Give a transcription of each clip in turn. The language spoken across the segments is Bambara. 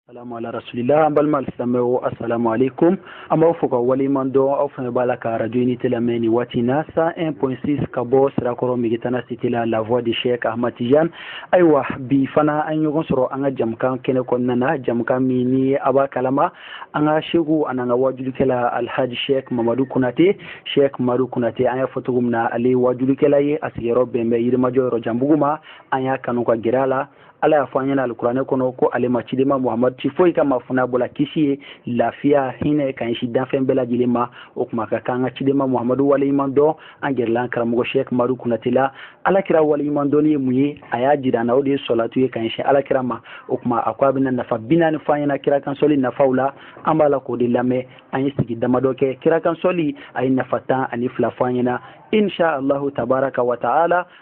salamu ala rasulila an balima alisilamɛw asalamu aleykum an b'aw fo ka waleɲuman dɔn aw fana b'a la ka radio unité lamɛn nin waati na 101.6 ka bɔ sirakɔrɔ megitana cité la la voix de cheikh ahmad tijan ayiwa bi fana an ɲɔgɔn sɔrɔ an ka jamukan kɛnɛ kɔnɔna na jamukan min ni a b'a kalama an ka seku an'an ka wajulikɛla alhaji sheikh mamadu konate sheikh mamadu konate an y'a fɔ cogo min na ale ye wajulikɛla ye a sigiyɔrɔ bɛn bɛ yirimajɔ yɔrɔjanbugu ma an y'a kanu ka gɛrɛ a la ala y'a fɔ an ɲɛna alikuranɛ kɔnɔ ko ale ma cidenba muhamadu ci foyi kama fo n'a bɔla kisi ye lafiya hinɛ ka ɲɛsin danfɛn bɛɛ lajɛlen ma o kuma ka kan ka cidenba muhamadu waleɲuman dɔn an gɛrɛla karamɔgɔ shek madu kunate la ala kira waleɲuman dɔnni ye mun ye a y'a jira an na o de ye sɔlatu ye ka ɲɛsin ala kira ma o kuma a ko a bɛna nafa bi naani fɔ an ɲɛna kira kan sɔli nafaw la an b'a la k'o de lamɛn an ye sigi damadɔ kɛ kira kan sɔli a ye nafa tan ani fila fɔ an ɲɛna insha allahu tabaraka wa taala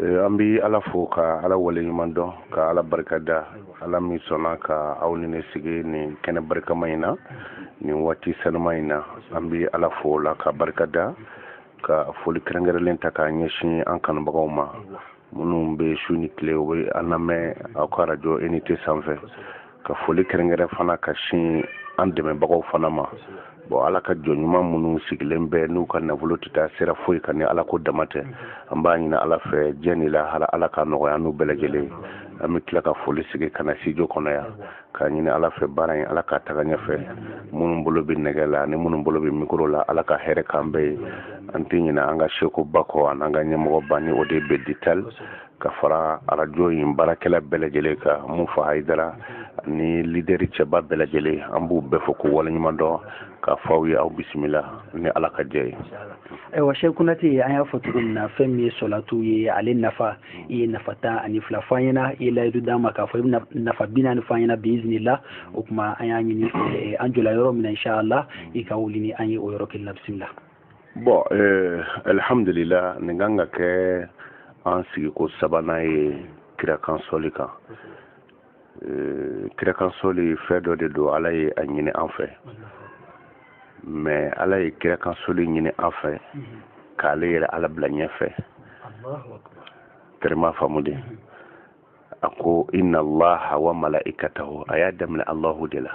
eh, an bɛ ala fo ka ala waleɲuman dɔn ka ala barika da ala min sɔnna ka aw ni ne sigi nin kɛnɛ barikama in na nin waati sanuma in na an bɛ ala fo o la ka barika da ka foli kɛrɛnkɛrɛnlen ta k'a ɲɛsin an kanubagaw ma minnu bɛ su ni tile u bɛ an lamɛn aw ka arajo unité sanfɛ ka foli kɛrɛnkɛrɛn fana ka sin an dɛmɛbagaw fana ma bon ala ka jɔn ɲuman minnu sigilen bɛ n'u ka nafolo tɛ taa sira foyi kan ni ala ko dama tɛ an b'a ɲini ala fɛ diɲɛ ni lahara ala ka nɔgɔya n'u bɛɛ lajɛlen an bɛ tila ka foli sigi ka na studio kɔnɔ yan k'a ɲini ala fɛ baara in ala ka taga ɲɛfɛ minnu bolo bɛ nɛgɛ la ani minnu bolo bɛ mikoro la ala ka hɛrɛ k'an bɛɛ ye an tɛ ɲinɛ an ka sekuba kɔ an'an ka ɲɛmɔgɔba ni o de bɛ ditali ka fara arajo in baarakɛla bɛɛ lajɛlen kan mufa hayidara ni lideri cɛba bɛɛ lajɛlen an b'u bɛɛ fo k'u waleɲuman dɔn k'a fɔ aw ye aw bisimila ni ala ka jɛ ye ayiwa shek kunate an y'a fɔ cogo min na fɛn min ye sɔlatu ye ale nafa i ye nafa tan ani fila fɔ an ɲɛna i ye layidu d'an ma k'a fɔ i bɛna nafa bi naani fɔ an ɲɛna biizinila o kuma an y'a ɲini an jɔla yɔrɔ min na inshallah i ka wuli ni an ye o yɔrɔ kelen na bisimila bon eh, alihamdulila nin kan ka kɛ an sigiko sabanan ye kira kan sɔli kan eh, kira kan sɔli fɛn dɔ de don ala ye a ɲini an fɛ mais ala ye kira kan sɔli ɲini an fɛ k'ale yɛrɛ ala bila ɲɛfɛ teri m'a faamu dɛ a ko inna allaha wa mala'ikatahu a y'a daminɛ allahu de la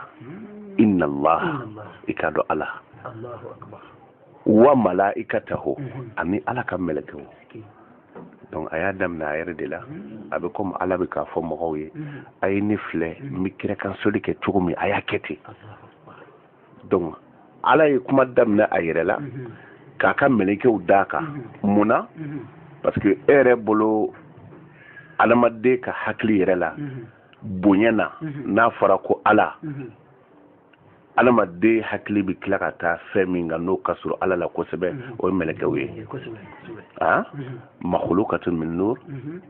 inna allaha i k'a dɔn ala wa mala'ikatahu mhm. ani ala ka mɛlɛkɛw donc a y'a daminɛ a yɛrɛ de la mhm. a bɛ komi ala bɛ k'a fɔ mɔgɔw ye mhm. a ye ne filɛ n bɛ kira kan sɔli kɛ cogo min a y'a kɛ ten donc ala ye kuma daminɛ a yɛrɛ la mhm. k'a ka mɛlɛkɛw d'a kan mhm. mun na mhm. parce que e yɛrɛ bolo adamaden ka hakili yɛrɛ la bonya na n'a fɔra ko ala adamaden hakili bɛ tila ka taa fɛn min kan n'o ka surun ala la kosɛbɛ o ye mɛlɛkɛw ye makhluqatun min nur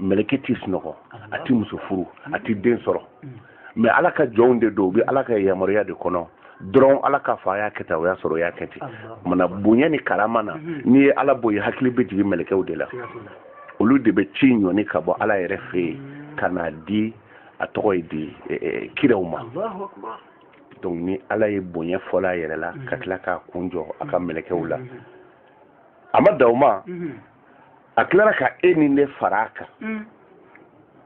mɛlɛkɛ ti sunɔgɔ a ti muso furu a ti den sɔrɔ mais ala ka jɔnw de don u bɛ ala ka yamaruya de kɔnɔ dɔrɔn ala k'a fɔ a y'a kɛ tan o y'a sɔrɔ o y'a kɛ ten mana bonya ni karama na mhm. n'i ye ala bɔ yen hakili bɛ jigin mɛlɛkɛw de la olu de bɛ ci ɲɔni ka bɔ ala yɛrɛ fɛ yen mhm. ka n'a di a tɔgɔ ye di e, e, kiraw ma donc ni ala ye bonya fɔlɔ a yɛrɛ la ka mhm. tila k'a kun jɔ a ka mɛlɛkɛw la a ma dan o ma a tilara ka e ni ne fara a kan mm.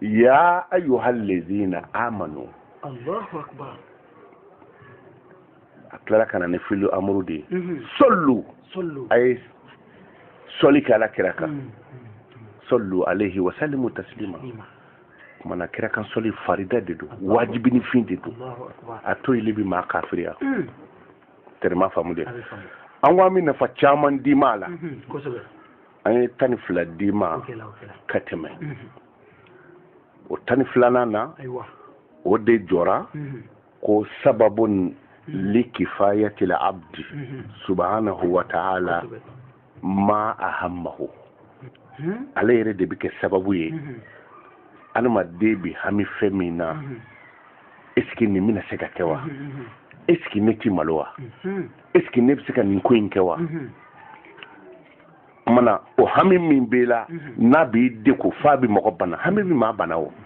ya ayyuhal lezina amanu Allahu akbar a tilara ka na ni filu amuru de ye mm-hmm. sallu a ye sɔli kɛ ala kira kan mm. sallu alaihi wa sallimu taslima kumana kira kan sɔli farida de don wajibinin fin de don a toyili bi maa kafiriya mm. tɛrɛma faamu de an ko an bɛ nafa caman d'i ma a la an ye tan ni fila d'i ma ka tɛmɛ o tan ni filanan na o de jɔra ko sababun li kifayatil abdi subhanahu wa ta'ala ma ahammahu hmm? ala yɛrɛ de bɛ kɛ sababu ye hmm. adamaden bɛ hami fɛn min na hmm. esike nin bɛna se ka kɛ wa esike ne ti malo wa esike ne bɛ se ka nin ko in kɛ wa mana o hami min b'i la n'a b'i degun f'a bɛ mɔgɔ bana hami bɛ maa bana o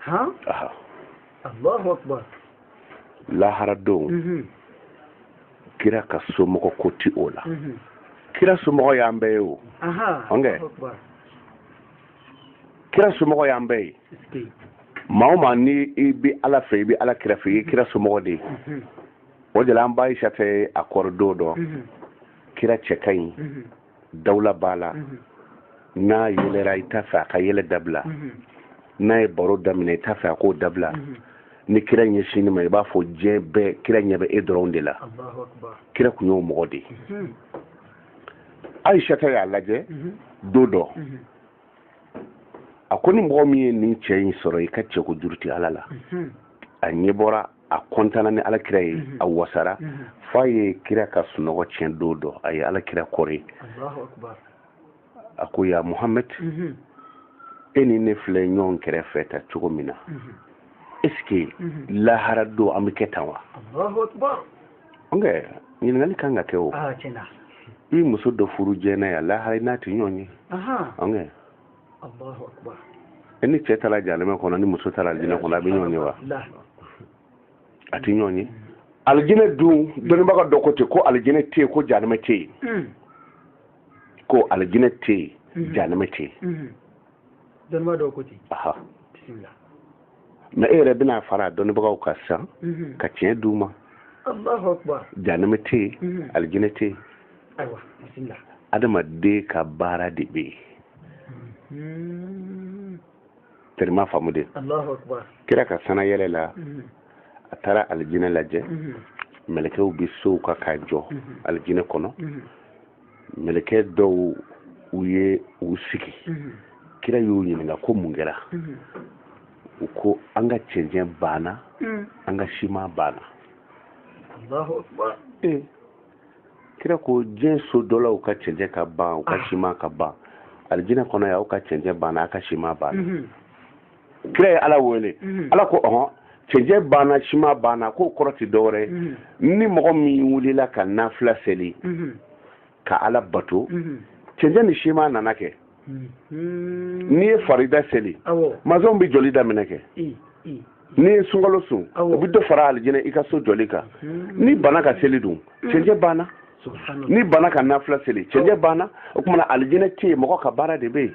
han aha allahu akbar lahara don mhm. kira ka somɔgɔ ko ti o la mhm. kira somɔgɔ y'an bɛɛ ye o ɔnkɛ kira somɔgɔ y'an bɛɛ ye maa o maa ni i bɛ ala fɛ i bɛ ala kira fɛ i ye kira somɔgɔ de ye mhm. o de la an ba ayisata y'a kɔrɔ don dɔ kira cɛ ka ɲi dawula b'a la n'a yɛlɛra i t'a fɛ a ka yɛlɛ dabila n'a ye baro daminɛ i t'a fɛ a k'o dabila ni kira ɲɛsinn'i ma i b'a fɔ diɲɛ bɛɛ kira ɲɛ bɛ e dɔrɔn de la kira tun y'o mɔgɔ de ye ayisata y'a lajɛ don dɔ a ko ni mɔgɔ min ye nin cɛ in sɔrɔ i ka cɛko juru tɛ ala la a ɲɛ bɔra a kontanna ni ala kira ye mhm. a wasara mhm. f'a ye kira ka sunɔgɔ tiɲɛ don dɔ a ye ala kira kɔre alahu akibaru a ko ya muhamad mhm. e ni ne filɛ ɲɔgɔn kɛrɛfɛ tan cogo min na eske lahara don an bɛ kɛ tan wa ɔnkɛ ɲininkali kan ka kɛ o ah, i muso dɔ furu diɲɛ na yan lahara i n'a tɛ ɲɔgɔn ye e ni cɛ taara jahanama kɔnɔ ni muso taara alijinɛ kɔnɔ a bɛ ɲɔgɔn ye wa a tɛ ɲɔgɔn ye alijinɛ dun dɔnnibaga dɔ ko ten ko alijinɛ tɛ yen ko jahanama tɛ yen hmm. ko alijinɛ tɛ yen hmm. jahanama tɛ yen hmm. dɔnnibaga dɔ ko ten bisimila nka e yɛrɛ bɛna fara a dɔnnibagaw kan sisan mhm. ka tiɲɛ d'u ma alahu akibaru janama tɛ yen mhm. alijinɛ tɛ yen adamaden ka baara de bɛ yen tɛrima faamu dɛ alahu akibaru kira ka san na yɛlɛ la a taara alijinɛ lajɛ mɛlɛkɛw bɛ sow kan k'a jɔ alijinɛ kɔnɔ mɛlɛkɛ dɔw u ye u sigi mhm. kira y'u ɲininka ko mun kɛra mhm. u ko an ka cɛncɛn banna mhm. an ka siman banna alahu akibaru kira ko diɲɛ so dɔlaw ka cɛncɛn ka ban u ka ah. siman ka ban alijinɛ kɔnɔ yan aw ka cɛncɛn banna aw ka siman banna kira ye ala wele mhm. ala ko ɔhɔn cɛncɛn banna siman banna k'o kɔrɔ tɛ dɔwɛrɛ mhm. ni mɔgɔ min wulila ka nafila seli mhm. ka ala bato cɛncɛn ni siman nana kɛ n'i ye farida seli masɔn bɛ jɔli daminɛ kɛ n'i ye sunkalo sun o bɛ dɔ fara alijinɛ i ka so jɔli kan n'i banna ka seli dun cɛncɛn banna n'i banna ka nafila seli cɛncɛn banna o tuma na alijinɛ tɛ yen mɔgɔ ka baara de bɛ yen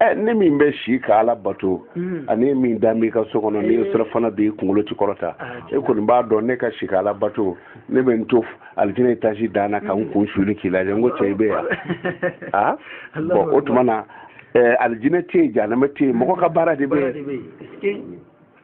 ɛ ne min bɛ si ka ala bato mm. ani e min dalen b'i ka so kɔnɔ ni eh. sira fana b'i kunkolo tɛ kɔrɔta ah, e kɔni b'a dɔn ne ka si ka ala bato ne bɛ n to alijinɛ etazi dan na ka n mm. kun suuli k'i lajɛ n ko cɛ i bɛ yan wa bɔn o tuma na alijinɛ tɛ yen janama tɛ yen mɔgɔ ka baara de bɛ yen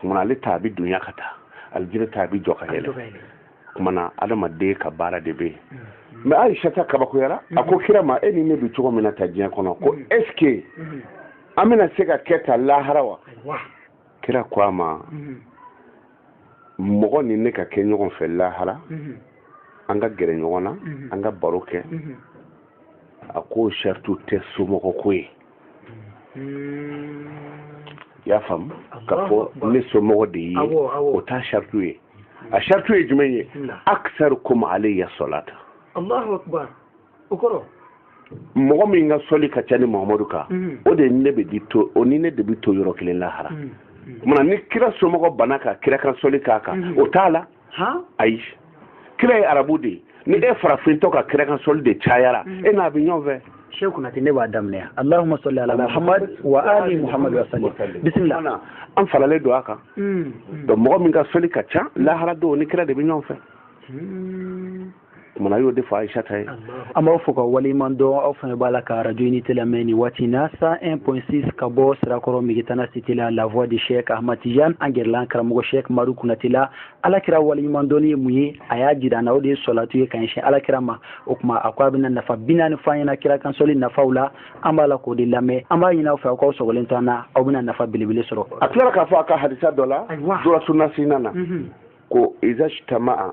kuma na ale ta a bɛ dunya ka taa alijinɛ ta a bɛ jɔ ka yɛlɛ kuma na adamaden ka baara de bɛ yen mɛ ayisata kabakoyara a ko kira ma e ni ne bɛ cogo min na tan diɲɛ kɔnɔ ko ɛsike an bɛna se ka kɛ tan lahara wa kira ko a ma mɔgɔ ni ne ka kɛ ɲɔgɔn fɛ lahara an ka gɛrɛ ɲɔgɔn na an ka baro kɛ a ko saritu tɛ somɔgɔ ko ye hmm. i y'a faamu k'a fɔ ne somɔgɔ de ye o t'a shartu ye a shartu ye jumɛn ye aksarukum alayya sɔlata allahu akbar o kɔrɔ mɔgɔ min ka sɔli ka ca ne mahamadu kan hmm. o de ne bɛ di to o ni ne de bɛ to yɔrɔ kelen lahara hmm. tuma na ni kira somɔgɔ bana ka kira kan sɔli k'a kan o t'a la ayi kira ye arabu de ye ni e farafintɔ ka kira kan sɔli de cayara mm. e n'a bɛ ɲɔgɔn fɛ sheikh kunate ne b'a daminɛ yan allahumma salli ala muhammad wa ali muhammad wa sallim bisimila an faralen don a kan mm. donc mɔgɔ min ka sɔli ka ca lahara don ni kira de bɛ ɲɔgɔn fɛ mm. kumana y'o de fɔ ayisata ye an b'aw fo ka waleɲuman dɔn aw fana b'a la ka arajo unité lamɛn nin waati na 101.6 ka bɔ sirakɔrɔ megetana site la la voix de chek ahmad tijan an gɛrɛla an karamɔgɔ chek madu kunate la ala kira waleɲuman dɔnni ye mun ye a y'a jira an na o de ye sɔlatu ye ka ɲɛsin ala kira ma o tuma a ko a bɛna nafa bi naani fɔ an ɲɛna kira kansɔli nafaw la an b'a la k'o de lamɛn an b'a ɲini aw fɛ aw k'aw sɔgɔlen to an na aw bɛna nafa belebele sɔrɔ a tilara k'a fɔ a ka hadisa dɔ la duratu nasihina na ko iza ijtama'a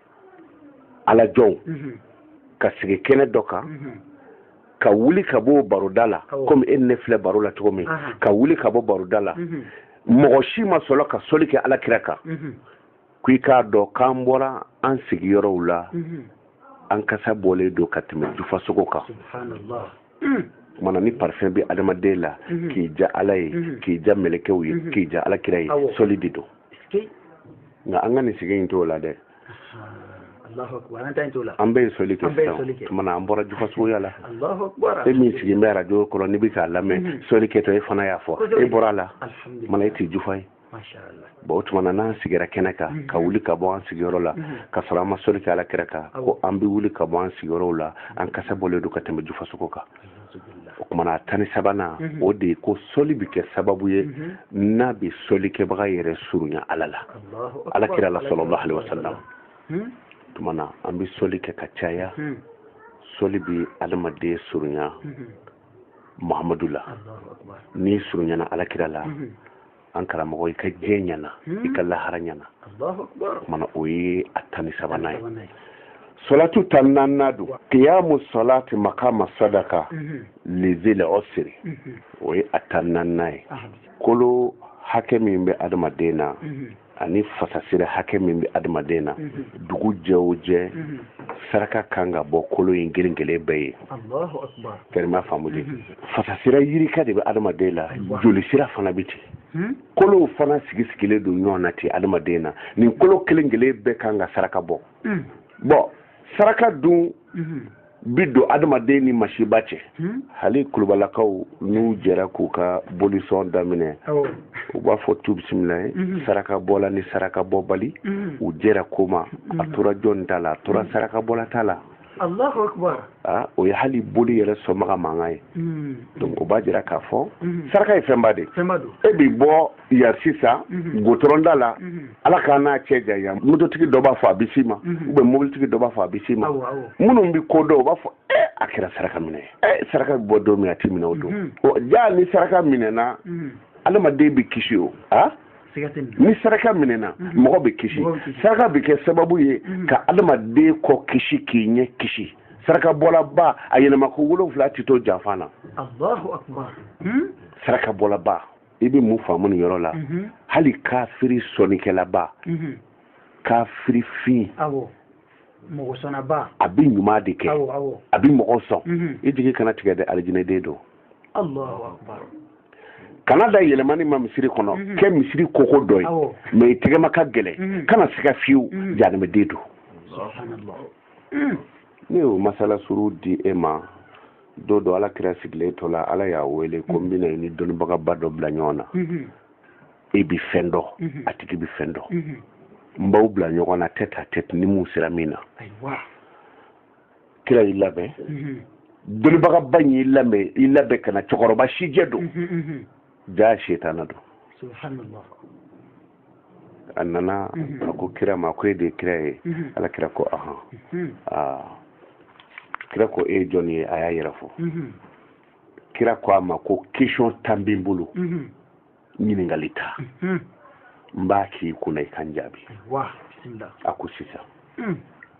ala jɔnw mhm. ka sigi kɛnɛ dɔ kan mhm. ka wuli ka bɔ baroda la komi e ni ne filɛ baro la cogo min ka wuli ka bɔ baroda la mhm. mɔgɔ si ma sɔrɔ ka soli kɛ ala kira kan ko i k'a dɔn k'an bɔra an sigiyɔrɔw la an kasa bɔlen don ka tɛmɛ jufasogo kan kumana ni parfum bɛ adamaden la k'i ja ala ye k'i ja mɛlɛkɛw ye k'i ja ala kira ye soli de don nka an ka nin sigi in t'o la dɛ an bɛ soli kɛ sisan tuma na an bɔra jufasogoya la e min sigilen bɛ arajo kɔrɔ n'i bɛ k'a lamɛn mhm. soli kɛtɔ e fana y'a fɔ e bɔra a la tuma na e tɛ jufa ye bon o tuma na n'an sigira kɛnɛ kan mhm. ka wuli ka bɔ an sigiyɔrɔ la mhm. ka sɔrɔ an ma soli kɛ ala kira kan ko an bɛ wuli ka bɔ an sigiyɔrɔw la an kasa bɔlen don ka tɛmɛ jufasogo kan o kumana a tan ni sabanan mhm. o de ye ko sɔli bɛ kɛ sababu ye mhm. n'a bɛ sɔlikɛbaga yɛrɛ surunya ala la ala kira la sallallahu alayhi wasallam mhm. tuma na an bɛ sɔli kɛ ka caya sɔli bɛ adamaden surunya mahamadu la n'i surunyana ala kira la an karamɔgɔ i ka diɲɛ ɲɛna i ka lahara ɲɛna mana o ye a tan ni sabanan ye solatu tan naaninan don kiyamu solati makama sadaka lizil usri o ye a tan naaninan ye kolo hakɛ min bɛ adamaden na ani fasasira hakɛ min bɛ adamaden na dugu jɛ o jɛ saraka kan ka bɔ kolo in kelen kelen bɛɛ ye fɛrɛma faamu de fasasira yirika de bɛ adamaden la joli sira fana bɛ ten hmm? kolow fana sigi sigilen don ɲɔgɔn na ten adamaden na nin kolo kelen kelen bɛɛ kan ka saraka bɔ hmm. bon saraka dun hmm. b'i don adamaden ni masiba cɛ hali kulubalakaw n'u jɛra k'u ka bolisɔn daminɛ u b'a fɔ tu bisimilayi saraka bɔla ni saraka bɔbali u jɛra ko ma a tora jɔn ta la a tora saraka bɔla ta la Allahu akbar ah, o ye hali boli yɛrɛ sɔnbaga mankan ye hmm. donc o b'a jira k'a fɔ hmm. saraka ye fɛnba de e bi bɔ yan sisan hmm. gotɔrɔnda la ala k'an n'a cɛ janya mototigi dɔ b'a fɔ a bɛ s'i ma ou bien mobilitigi dɔ b'a fɔ a bɛ s'i ma minnu bɛ ko dɔn o b'a fɔ e a kɛra saraka minɛ ye e saraka bɛ bɔ don min a tɛ minɛ o don jaa ni saraka minɛna adamaden bɛ kisi o a ah? ni saraka minɛna mhm. mɔgɔ bɛ kisi saraka bɛ kɛ sababu ye mhm. ka adamaden kɔ kisi k'i ɲɛ kisi saraka bɔlaba a yɛlɛma ko wolonwula tɛ to janfa na hmm? saraka bɔlaba i bɛ mun faamu nin yɔrɔ la mhm. hali kafiri sɔnnikɛlaba kafiri fin mɔgɔ sɔnnaba a bɛ ɲuman de kɛ a bɛ mɔgɔ sɔn mhm. i jigi kana tigɛ dɛ alijinɛden don kana da yɛlɛmani ma misiri kɔnɔ mhm. kɛ misiri koko dɔ ye mais i tɛgɛma ka gɛlɛn mhm. kana siga fiyewu janimɛden don ne y'o masala suru di e ma don dɔ ala kira sigilen to la ala y'a wele ko n bɛna i ni dɔnnibagaba dɔ bila ɲɔgɔn na e bɛ fɛn dɔn mhm. a tigi bɛ fɛn dɔn mhm. n b'aw bila ɲɔgɔn na tête à tête ni mun sera min na kira y'i labɛn mhm. dɔnnibagaba in y'i labɛn i labɛn ka na cɛkɔrɔba sijɛ don jaa setana don subhanallah a nana a ko kira ma ko e de ye kira ye ala kira ko ahan kira ko e ye jɔn ye a y'a yɛrɛ fɔ kira ko a ma ko question tan bɛ n bolo ɲininkali tan mhm. n b'a k'i kunna i ka n jaabi wa bisimila a ko sisan mhm.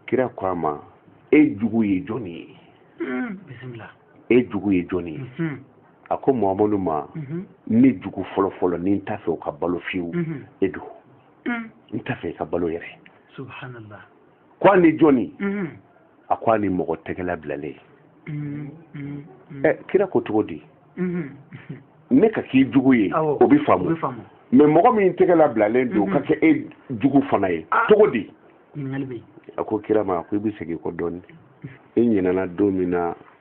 kira ko a ma e jugu ye jɔni ye bisimila e jugu ye jɔni ye a ko mamadu ma ne jugu fɔlɔfɔlɔ ni n t'a fɛ o ka balo fiyewu e don n t'a fɛ i ka balo yɛrɛ ko a ni jɔni mm-hmm. a ko a ni mɔgɔ tɛgɛla bilalen mm-hmm. ɛ kira ko cogo di mm-hmm. ne ka k'i jugu ye o bɛ faamu mais mɔgɔ min tɛgɛla bilalen don ka kɛ e jugu fana ye ah. cogo di a ko kira ma a ko i bɛ segin kɔ dɔɔni e ɲinɛna don min na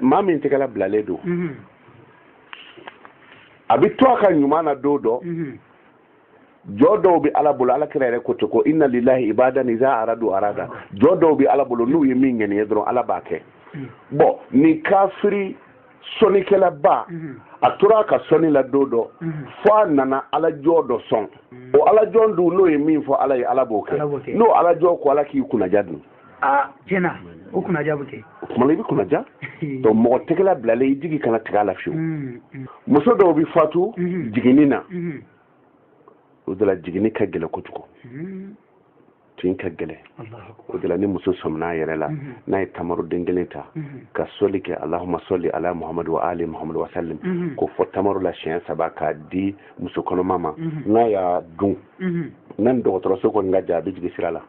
maa min tɛgɛla bilalen don mhm. a bɛ to a ka ɲuman na don dɔ mhm. jɔn dɔw bɛ ala bolo ala kira yɛrɛ ko ten ko inna lillahi ibadan iza aradu arada jɔn dɔw bɛ ala bolo n'u ye min ŋɛniye dɔrɔn ala b'a kɛ mhm. bon nin kafiri sɔnnikɛlaba a tora a ka sɔnni la don dɔ fo a nana alajɔn dɔ sɔn o alajɔn dun n'o ye min fɔ ala ye ala b'o kɛ n'o alajɔn ko ala k'i kunnaja dun aa tiɲɛ na o kunnaja bɛ kɛ o tuma na i bɛ kunnaja donc mɔgɔ tɛgɛla bilalen i jigi kana tigɛ a la fiyewu mm, mm. muso dɔw bɛ fatu mm-hmm. jiginni na mm-hmm. o de la jiginni ka gɛlɛn kojugu mm-hmm. tin ka gɛlɛn o de la ni muso sɔminna a yɛrɛ la n'a ye tamaruden kelen ta ka sɔli kɛ alahuma sɔli ala muhamadu wa ali muhamadu wa salim k'o fɔ tamaro la siɲɛ saba k'a di muso kɔnɔma ma n'a y'a dun n'a ni dɔgɔtɔrɔso kɔni ka jan a bɛ jigi sira la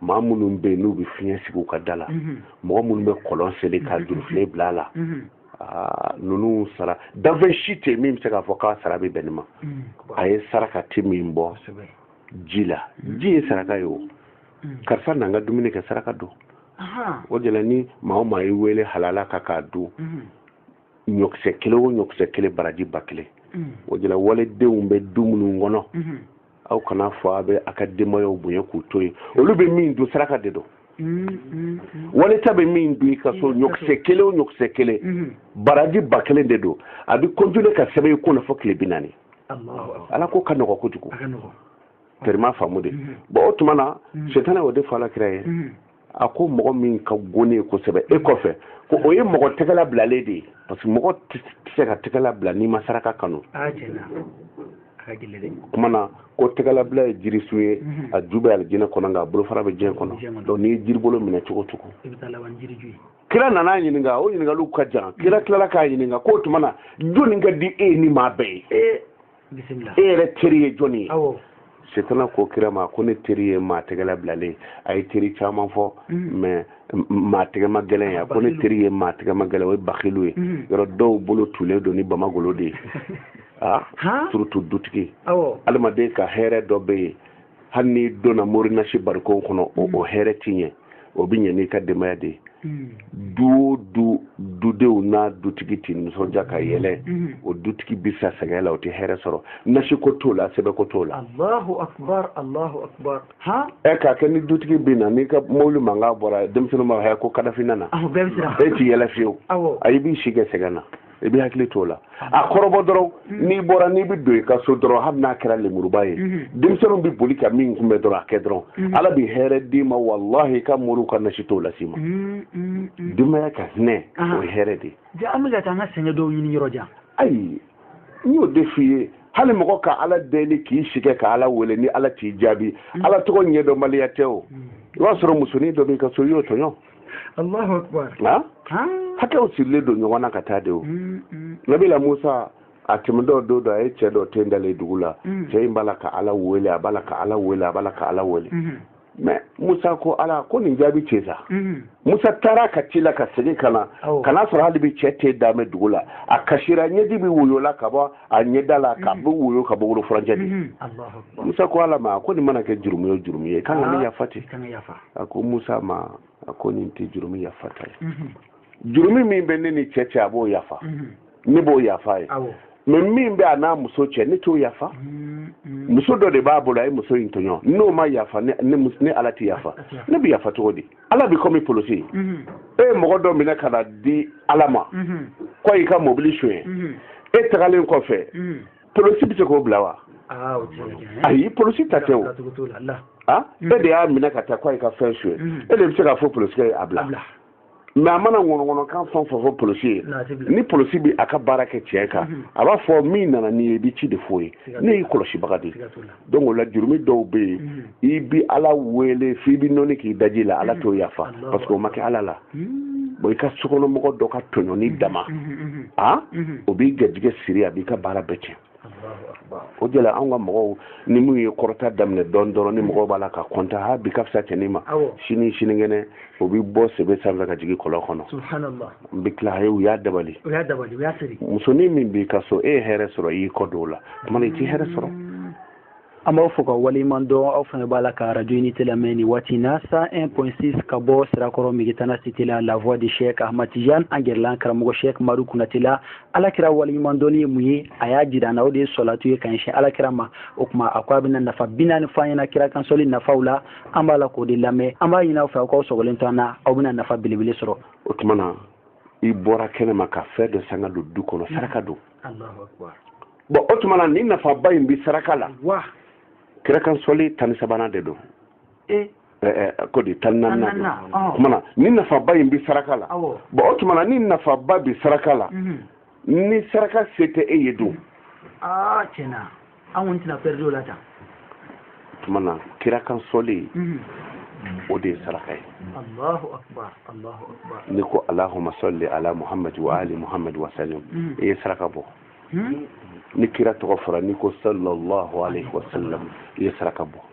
maa minnu bɛ yen n'u bɛ fiɲɛ sigi u ka da la mhm. mɔgɔ minnu bɛ kɔlɔn seli ka mhm. jurufilen bila a la mhm. ah, ninnu sara danfɛn si tɛ min bɛ se k'a fɔ k'a sara bɛ bɛn nin ma a ye saraka ti min bɔ ji la ji ye saraka ye o karisa n'an ka dumuni kɛ saraka don o de la ni maa o maa y'i wele halala ka k'a dun ɲɔkisɛ kelen o ɲɔkisɛ kelen baraji ba kelen mm. o de la waledenw bɛ du minnu kɔnɔ mm-hmm. aw kana fɔ a bɛ a ka denbayaw bonya k'u to yen olu bɛ min dun saraka de don mm-hmm. waleta bɛ min dun i ka so mm-hmm. ɲɔkisɛ kelen o ɲɔkisɛ kelen baraji ba kelen de don a bɛ kɔntule ka sɛbɛn i ko na fo tile bi naani ala ko ka nɔgɔ kojugu tɛrima faamu de bon o tuma na setana o de fɔ ala kira ye a ko mɔgɔ min ka go ne ye kosɛbɛ e kɔfɛ ko o ye mɔgɔ tɛgɛla bilalen de ye parce que mɔgɔ tɛ se ka tɛgɛla bila n'i ma saraka kanu kuma na ko tɛgɛlabila ye jirisun ye mhm. a ju bɛ alijinɛ kɔnɔ nka a bolofara bɛ diɲɛ kɔnɔ donc n'i ye jiribolo minɛ cogo o cogo kira nana ɲininka o ɲininkaliw ka jan kira tilala k'a ɲininka k'o tuma na jɔnni ka di e ni maa bɛɛ ye e yɛrɛ teri ye jɔni ye setana ko kira ma ko ne teri ye maa tɛgɛla bilalen a ye teri caman fɔ mm-hmm. mais maa tɛgɛma gɛlɛn ye a ko ne teri ye maa tɛgɛma gɛlɛn o ye bakilu ye mm-hmm. yɔrɔ dɔw bolo tulen don ni bamagolo de ye a ah, surtout dutigi adamaden ka hɛrɛ dɔ bɛ yen hali n'i donna morinasi barikon kɔnɔ o mm. hɛrɛ ti ɲɛ o bɛ ɲɛ n'i ka denbaya de ye mm. du o du dudenw n'a dutigi ti nisɔndiya ka yɛlɛ mm. o dutigi bɛ sa sɛgɛn la o tɛ hɛrɛ sɔrɔ nasi ko t'o la sɛbɛn ko t'o la. alahu akubar alahu akubar. ɛ k'a kɛ ni dutigi bɛ na n'i ka mobili mankan bɔra denmisɛnninw b'a fɔ ko kadafi nana. e ti yɛlɛ fiyewu. ayi b'i si kɛ sɛgɛn na. i bɛ hakili t'o la a kɔrɔbɔ dɔrɔn mm-hmm. n'i bɔra n'i bɛ don i ka so dɔrɔn hali n'a kɛra lemuruba ye mm-hmm. denmisɛnninw bɛ boli ka min kunbɛ dɔrɔn a kɛ dɔrɔn mm-hmm. ala bɛ hɛrɛ d'i ma walahi i ka moriw ka nasi t'o las'i ma denbaya ka hinɛ ah. o ye hɛrɛ de ye an bɛ ka taa an ka sɛgɛn dɔw ɲini yɔrɔ jan ayi n y'o de f'i ye hali mɔgɔ ka ala deli k'i sɛgɛn ka ala wele ni ala t'i jaabi ala tɔgɔ ɲɛdɔnbaliya tɛ o i b'a sɔrɔ musonin dɔ b'i ka so i y'o tɔɲɔ Allahu akbar hakɛw sirilen don ɲɔgɔn na ka taa de o mm, mm. nabila musa a tɛmɛtɔ don dɔ a ye cɛ dɔ ten dalen dugu la mm. cɛ in b'a la ka ala wele a b'a la ka ala wele a b'a la ka ala wele mm-hmm. mɛ musa ko ala ko nin jaabi cɛ sa mm-hmm. musa taara ka tila ka segin ka na ka n'a sɔrɔ hali bi cɛ tenda bɛ dugu la a kasira ɲɛji bɛ woyo la ka bɔ a ɲɛda la ka mm-hmm. bɛ woyo ka bɔ wolo furancɛ de musa ko ala ma ko nin mana kɛ jurumu ye jurumu ye kan ka ne ah, yafa ten a ko musa ma a ko nin tɛ jurumi yafata ye jurumi min bɛ ne ni cɛ cɛ a b'o yafa ne b'o yafa a ye mɛ min bɛ a n'a muso cɛ ne t'o yafa muso dɔ de b'a bolo a ye muso in tɔɲɔ n'o ma yafa ne ala tɛ yafa ne bɛ yafa cogo di ala bɛ kɔmi polisi ye e ye mɔgɔ dɔ minɛ ka n'a di ala ma k'o y'i ka mɔbili sonyɛ e tagalen kɔfɛ polosi bɛ se k'o bila wa ah, ayi polosi ta tɛ o ah, mm. e de y'a minɛ ka taa ko a y'i ka fɛn sonyɛ mm. e de bɛ se k'a fɔ polosi ye a bila mɛ a mana ŋɔnɔŋɔnɔkan fɛn o fɛn fɔ polosi ye ni polosi bɛ a ka baara kɛ tiɲɛ kan mm-hmm. a b'a fɔ min nana n'i ye i bɛ ci de f'o ye ne y'i kɔlɔsibaga de ye donc o la jurumi dɔw bɛ yen mm. i bi ala wele f'i bi nɔni k'i daji la ala mm. t'o yafa parce que o ma kɛ ala la mm. bon i ka sokɔnɔmɔgɔ dɔ ka tɔɲɔni dama a o b'i garijɛgɛ siri a b'i ka baara bɛɛ tiɲɛ o de la anw ka mɔgɔw ni minnu ye kɔrɔta daminɛ dɔɔni dɔrɔn ni mɔgɔw b'a la ka kɔntan ha bi ka fisa cɛnin ma sini sinikɛnɛ o bɛ bɔ sebe sanfɛ ka jigin kɔlɔn kɔnɔ n bɛ tila u y'a dabali musonin min b'i ka so e ye hɛrɛ sɔrɔ i y'i kɔ don o la tuma i t'i hɛrɛ sɔrɔ mm. an b'aw fo ka waleɲuman dɔn aw fana b'a la ka arajo unité lamɛn nin waati na 101.6 ka bɔ sirakɔrɔ migitana site la la voix de cheikh ahmad tijan an gɛrɛlen karamɔgɔ cheikh madu konate la ala kira waleɲuman dɔnni ye mun ye a y'a jira an na o de ye sɔlatu ye ka ɲɛsin ala kira ma o tuma a ko a bɛna nafa bi naani fɔ an ɲɛna kira kansɔli nafaw la an b'a la k'o de lamɛn an b'a ɲini aw fɛ aw k'aw sɔgɔlen to an na aw bɛna nafa belebele sɔrɔ o tuma na i bɔra kɛnɛ ma ka fɛn dɔ san k'a don du kɔnɔ saraka don bɔn o tuma na ni nafaba in bɛ saraka la kirakansɔli tan ni sabanan de don e? ko di tan naani o tuma na ni nafaba in bɛ saraka la bɔn o tuma na ni nafaba bɛ saraka la mhm. ni saraka se tɛ e ye don ah, an kɔni tɛna pɛridi o la tan tuma na kira kan sɔli mhm. o de ye saraka ye allahu akbar n'i ko alahuma sɔli ala muhamadu wa ali muhamadu wa salim mhm. i ye saraka bɔ mhm. ni kira tɔgɔ fɔra n'i ko sallallahu alaihi wa sallam i ye saraka bɔ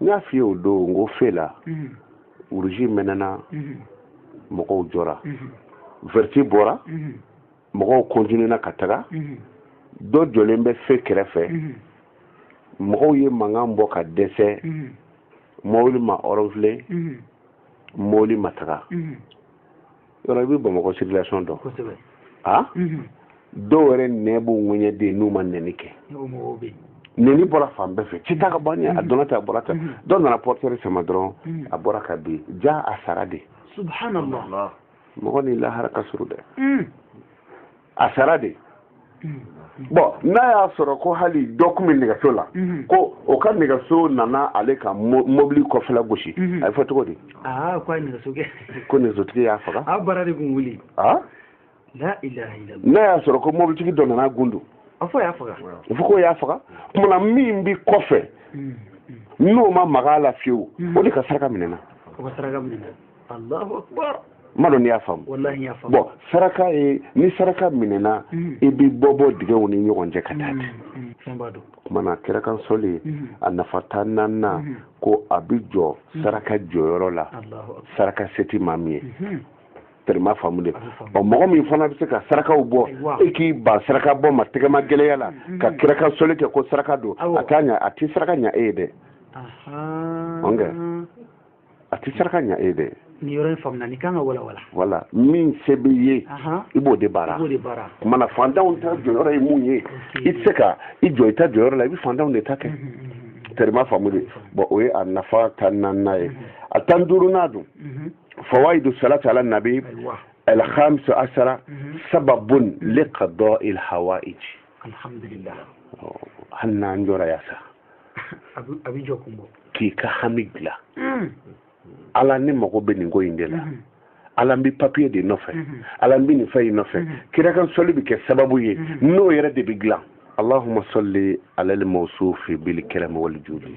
n y'a f'i ye o don n ko fe la wuruji mɛnɛna mɔgɔw jɔra vɛriti bɔra mɔgɔw kɔntinena ka taga dɔ jɔlen bɛ fe kɛrɛfɛ mɔgɔw ye mankan bɔ ka dɛsɛ mɔbili ma ɔrɔnfile mɔbili ma taga yɔrɔ i bɛ bamakɔ circulation dɔn kosɛbɛ a mhm. dɔw yɛrɛ nɛn b'u ŋɛɲɛ dɛ n'u ma nɛni kɛ nɛni bɔra fan bɛɛ fɛ cɛ taga bani a mhm. donna tan a bɔra tan mhm. dɔ nana portière sama dɔrɔn a bɔra ka bin ja a sara dɛ subhanallah mɔgɔ ni lahara ka surun dɛ a sara dɛ bɔn n'a y'a sɔrɔ ko hali dɔ tun bɛ nɛgɛso la ko o ka nɛgɛso nana ale ka mobili kɔfɛla gosi a bɛ fɔ cogo di ko nɛgɛsotigi y'a faga n'a y'a sɔrɔ ko mobilitigi dɔ nana gundu a fɔ k'o y'a faga tuma na min bɛ kɔfɛ n'o ma maga a la fiyewu o de ka saraka minɛna ma dɔn n'i y'a faamu bɔn saraka ye ni saraka minɛna mm. i bɛ bɔ bɔ dingɛw ni ɲɔgɔn cɛ ka taa mm, mm, ten kuma na kira kan sɔli a nafa tan naaninan ko a bɛ jɔ saraka jɔyɔrɔ la saraka se tɛ maa min ye mm-hmm. tɛrɛ m'a faamu dɛ ɔ mɔgɔ min fana bɛ se ka sarakaw bɔ e k'i ban saraka bɔ ma tɛgɛmagɛlɛya la mm-hmm. ka kira kan sɔli kɛ ko saraka don a t'a ɲa a tɛ saraka ɲa e ye dɛ a tɛ saraka ɲa e dɛ nin yɔrɔ in faamuna nin kan ka walawala voilà min se b'i ye i b'o de baara kuma na fantanw ta jɔyɔrɔ ye mun ye i tɛ se ka i jɔ i ta jɔyɔrɔ la i bɛ fantanw de ta kɛ tɛrɛ m'a faamu dɛ bɔn o ye a nafa tan naaninan ye a tan duurunan dun fawaidu salati ala nabi alhamisa asara sababun liqada il hawaij alhamdulillah oh, hali n'an jɔra yan sa a bɛ jɔkun bɔ k'i ka hami dilan hmm. ala ne mago bɛ nin ko in de la hmm. ala n bɛ papiye de nɔfɛ hmm. ala n bɛ nin fɛn in nɔfɛ kira kan sɔli bɛ kɛ sababu ye n'o yɛrɛ de bɛ dilan allahumma salli ala al-mawsufi bil karam wal judi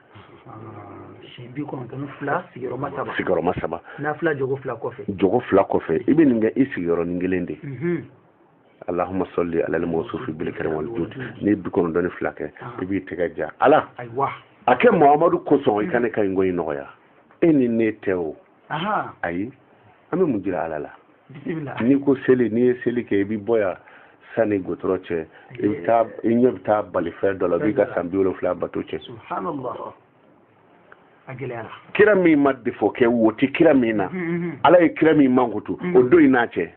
sigiyɔrɔma saba nafila jɔkɔ fila kɔfɛ i bɛ nin kɛ i sigiyɔrɔnin kelen de mhm. alahuma sɔli alali mɔsufi bil karam wal judi n'i ye bi kɔnɔntɔn ni fila kɛ ah. i b'i tɛgɛ ja ala a kɛ muhamadu kosɔn i ka ne ka nin ko in nɔgɔya e ni ne tɛ o ayi an bɛ mun jira ala la n'i ko seli n'i ye seli kɛ i bɛ bɔ yan sani gudɔrɔn cɛ i bɛ taa i ɲɛ bɛ taa balifɛn dɔ la b'i ka san bi wolonfila bato cɛn kira min ma defo kɛ wo tɛ kira min na mm, mm, mm. ala ye kira min mankutu o don i n'a cɛ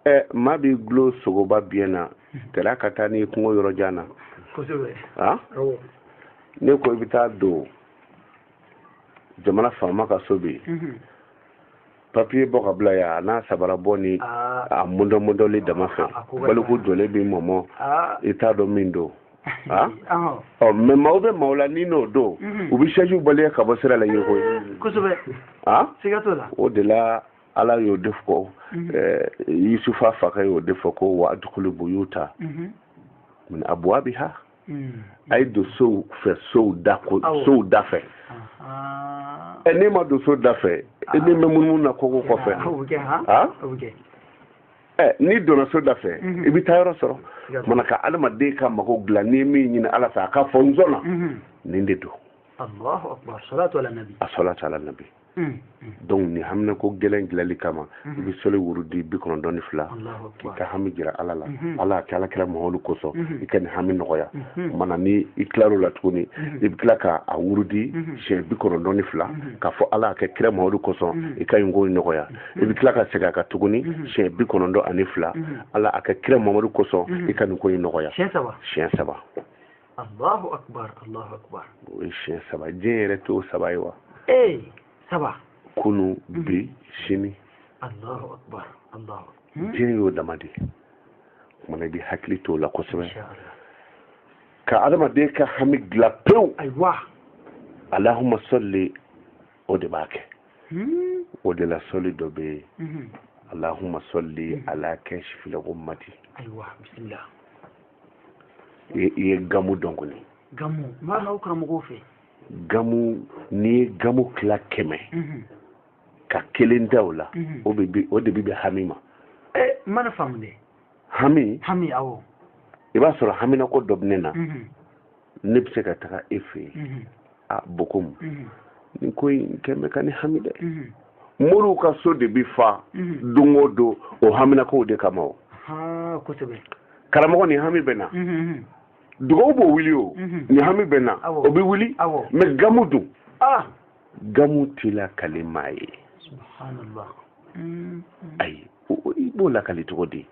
ɛ maa b'i dulon sogoba biɲɛ na tɛrɛ ka taa n'i kungo yɔrɔ jan na a n'i ko i bɛ taa don jamana faama ka so bi mhm. papiye bɔ ka bila yan a n'a sabara bɔ ni ah. a mɔdɔmɔdɔli dama fɛ ah, baliku jɔlen b'i mɔmɔ ah. i t'a dɔn min don ɔ oh, mɛ maaw bɛ maaw la ni n'o don mhm. u bɛ sɛjiw baleye ka bɔ sira la yeko ye o de la ala y'o de fɔ mhm. eh, yusufa fakɛ y'o de fɔ ko wa adukulu buyuta mhm. min abwabiha mhm. a ye don sow fɛ sow da ko sow da fɛ ɛ n'e ma don so da fɛ e nin bɛ munumunu na koko kɔfɛ ha ɛ n'i donna so da fɛ i bɛ taa yɔrɔ sɔrɔ mana ka adamaden ka mago dilan n'i ye min ɲini ala fɛ a ka fɔ n sɔnna nin de don a salatu ala nabi Hmm, hmm. donc nin haminako gɛlɛn dilali kama hmm. i bɛ sɔli wurudi bi kɔnɔntɔn ni fila k'i ka hami jira ala la ala a kɛ ala kira muhamadu kosɔn i ka nin hami nɔgɔya mana ni i tilar'o la tuguni i bɛ tila ka a wurudi siɲɛ bi kɔnɔntɔn ni fila k'a fɔ ala a kɛ kira muhamadu kosɔn i ka nin ko in nɔgɔya i bɛ tila ka segin a kan tuguni siɲɛ bi kɔnɔntɔn ani fila ala a kɛ kira muhamadu kosɔn i ka nin ko in nɔgɔya siɲɛ saba Allahu akbar Allahu akbar o ye siɲɛ saba diɲɛ yɛrɛ t'o saba ye wa ee saba kunu mhm. bi sini Allahu akbar Allahu hmm? diɲɛ y'o dama de kumana i bɛ hakili t'o la kosɛbɛ ka adamaden ka hami dilan pewu ayiwa alahuma sɔli o de b'a kɛ hmm? o de la sɔli dɔ bɛ yen mhm. alahuma sɔli hmm. ala kasifili gumati ayiwa bisimila i ye gamu dɔn kɔni gamu mana aw karamɔgɔw fɛ gamu n'i ye gamu tila kɛmɛ mhm. ka kelen da o la mhm. o de bɛ bɛn hami ma eh, mana faamu dɛ hami hami awɔ i b'a sɔrɔ haminako dɔ bɛ ne na mhm. ne bɛ se ka taga e fɛ yen a bokumu nin ko in kɛ bɛ ka ne hami dɛ moriw ka so de bɛ fa don o don o haminakow de kama o karamɔgɔ nin hami bɛ n na dugawu b'o wuli o nin hami bɛ n na o bɛ wuli mɛ gamu dun gamu tɛ lakali maa ye ayi i b'o lakali cogo di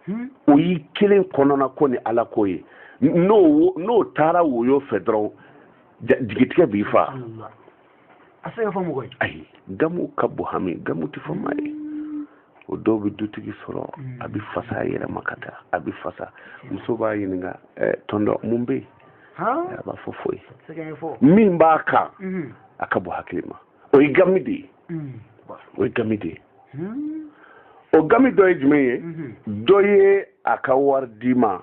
hmm? o y'i kelen kɔnɔna ko ni ala ko ye n'o n'o taara woyo fɛ dɔrɔn jigitigɛ b'i fa a se ka fɔ mɔgɔ ye ayi gamu ka bon hami gamu tɛ fɔ maa ye o dɔw bɛ dutigi sɔrɔ hmm. a bɛ fasa a yɛrɛ ma ka taa a bɛ fasa muso b'a ɲininka eh, tɔntɔn mun bɛ yen a b'a fɔ foyi min b'a kan hmm. a ka bon hakili ma o ye gami de ye o ye gami de ye o gami dɔ ye jumɛn ye dɔ ye a ka wari d'i ma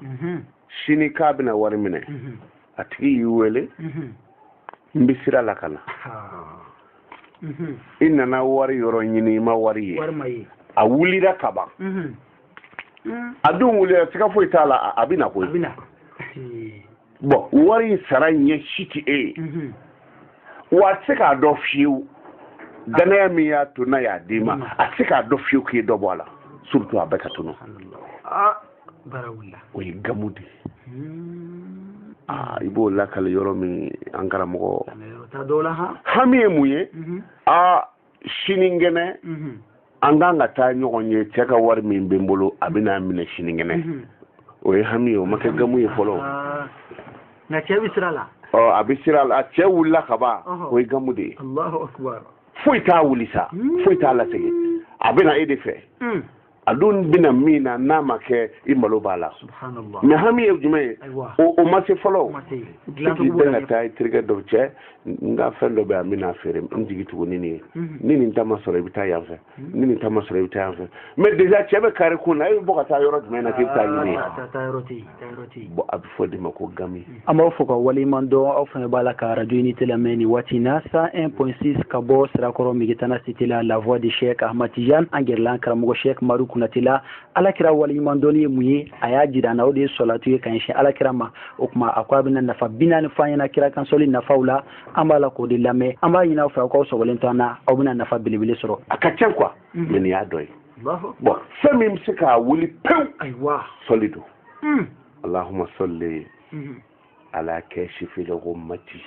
sini k'a bɛna wari minɛ a tigi y'i wele n bɛ sira la ka na i nana wari yɔrɔ ɲini i ma wari ye a wulira ka ban a dun wulira siga foyi t'a la a bɛ na koyi bɔn wari in sara ɲɛ si tɛ e ye mhm. wa a tɛ se k'a dɔn fiyewu dannaya min y'a to n'a y'a d'i ma mhm. a tɛ se k'a dɔn fiyewu k'i ye dɔ bɔ a la surtout a bɛɛ ka tunu ah, o ye gamu de ye hmm. ah, i b'o lakali yɔrɔ min an karamɔgɔ hami ye mun ye aa mhm. ah, sinikɛnɛ an kan ka taa ɲɔgɔn ye cɛ ka wari min bɛ n bolo a bɛ n'a minɛ sinikɛnɛ o ye hami ye o ma kɛ gamu ye fɔlɔ ah. nka cɛ bɛ sira la ɔ a bɛ sira la cɛ wulila ka ban o ye gamu de ye alahu akbar foyi t'a wuli sa hmm. foyi t'a lasegin a bɛ na e de fɛ hmm. a dun bɛna min na n'a ma kɛ i malo b'a la mais hami ye jumɛn ye o ma se fɔlɔ k'i bɛn ka taa i terikɛ dɔ cɛ n ka fɛn dɔ bɛ yan n bɛna feere n jigi tugu ni nin ye mhm. ni nin ta ma sɔrɔ i bɛ taa yan fɛ mhm. ni nin ta ma sɔrɔ i bɛ taa yan fɛ mais déjà cɛ bɛ kare kun na e bɛ bɔ ka taa yɔrɔ jumɛn na k'i bɛ taa ɲini yen bɔn a bɛ fɔ o de ma ko gami an b'aw fo k'aw waleɲuman dɔn aw fana b'a la ka radio unité lamɛn nin waati na 101 point 6 ka bɔ sirakɔrɔ megetana cité la la voix de cheick ahmad tijan an gɛrɛ la an karamɔgɔ cheick maru kunatɛ la ala kira waleɲuman dɔnni ye mun ye a y'a jira an na o de ye sɔlatu ye ka ɲɛsin ala kira ma o tuma a ko a bɛna nafa bi naani fɔ an ɲɛ na kira kan sɔli nafaw la an b'a la k'o de lamɛn an b'a ɲini aw fɛ aw k'aw sɔgɔlen to an na aw bɛna nafa belebele sɔrɔ a ka ca quoi mais nin y'a dɔ ye bɔn fɛn min bɛ se k'a wuli pewu sɔli don hmm. alahuma sɔli hmm. ala kashifil ghummati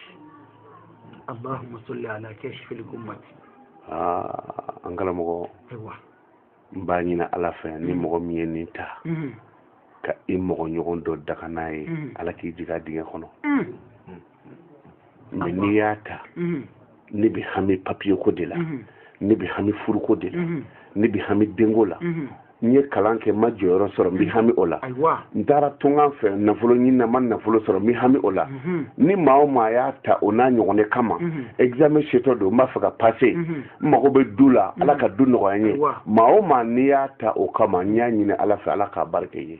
alahuma sɔli ala kashifil ghummati aa an karamɔgɔ n b'a ɲini ala fɛ ni hmm. mɔgɔ min ye nin ta ka i mɔgɔ ɲɔgɔn dɔ danga n'a ye ala k'i jigin a dingɛ kɔnɔ mɛ n'i y'a ta mhm. ne bɛ hami papiye ko de la mhm. ne bɛ hami furuko de la mhm. ne bɛ hami denko la n ye kalan kɛ n ma jɔyɔrɔ sɔrɔ n bɛ hami o la n taara tunkan fɛ nafolo ɲini na n ma nafolo sɔrɔ n bɛ hami o la ni maa o maa y'a ta o n'a ɲɔgɔn de kama examen setɔ don n b'a fɛ ka pase n mago bɛ du la ala ka du nɔgɔya n ye maa o maa n'i y'a ta o kama n y'a ɲini ala fɛ ala k'a barika ye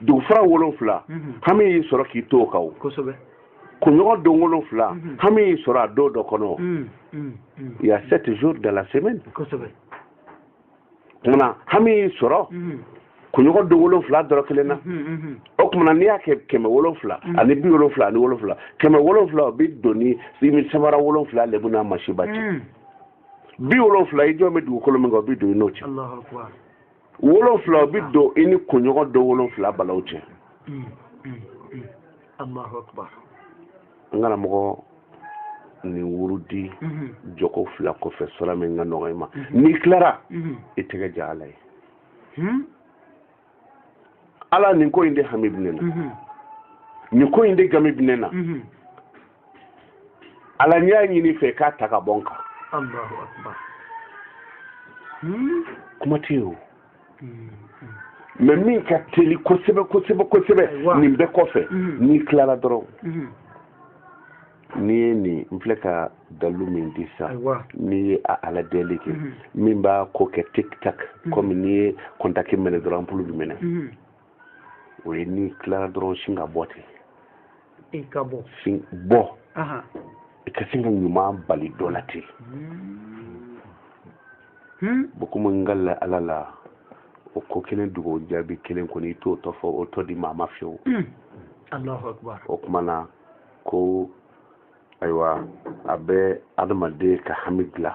dugufara wolonfila mhm. hami y'i sɔrɔ k'i to o kan o kunɲɔgɔn don wolonfila mhm. hami y'i sɔrɔ a don dɔ kɔnɔ mhm, il y a sept jours dans la semaine kumana hami y'i sɔrɔ kunɲɔgɔn don wolonfila dɔrɔn kelen na o kumana n'i y'a kɛ kɛmɛ wolonfila ani bi wolonfila ani wolonfila kɛmɛ wolonfila o bɛ don i ni sanfara wolonfila lebu n'a masiba cɛ bi wolonfila i jɔlen bɛ dugukolo min kan o bɛ don i n'o cɛ wolonfila o bi don i ni kunɲɔgɔn don wolonfila balaw cɛ Allahu akbar. an karamɔgɔ nin wurudi mm-hmm. jɔko fila kɔfɛ sura min ka nɔgɔ i ma mm-hmm. n'i tilara mm-hmm. i tɛgɛ ja ala ye hmm? ala nin ko in de hami bɛ ne na nin ko in de gami bɛ ne na ala n y'a ɲini i fɛ k'a ta ka bɔ n kan hmm? kuma tɛ yen o hmm, hmm. mɛ min ka teli kosɛbɛ kosɛbɛ kosɛbɛ nin bɛɛ kɔfɛ n'i tilara dɔrɔn n'i ye nin n filɛ ka dalu min di sa n'i ye a ala deli kɛ min b'a ko kɛ tik tak kɔmi n'i ye kɔntaki mɛnɛ dɔrɔn anpulu bi mɛnɛ o ye n'i tilara dɔrɔn sin ka bɔ ten i ka bɔ sin bɔ i ka sin ka ɲuman bali dɔ la ten hmm. hmm. bon komi n ka la ala la o ko kelen dugawu jaabi kelen kɔni i t'o tɔ fɔ o tɔ di maa ma fiyewu hmm. o tuma na ko ayiwa a bɛ adamaden ka hami dilan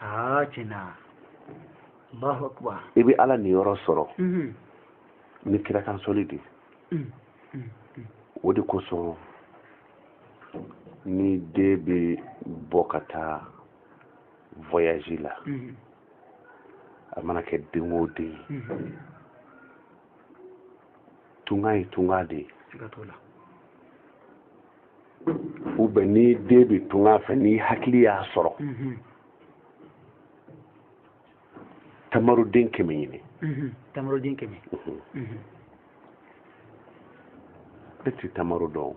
aa tiɲɛ na Allahu akbar i bɛ Ala niyɔrɔ sɔrɔ ni kira kan sɔli de o de kosɔn ni den bɛ bɔ ka taa voyage la a mana kɛ den o den ye tunga ye tunga de ye ou bien ni den bɛ tunga fɛ n'i hakili y'a sɔrɔ mhm. tamaroden kɛmɛ ɲini mhm. tamaroden kɛmɛ mhm. e ti tamaro dɔn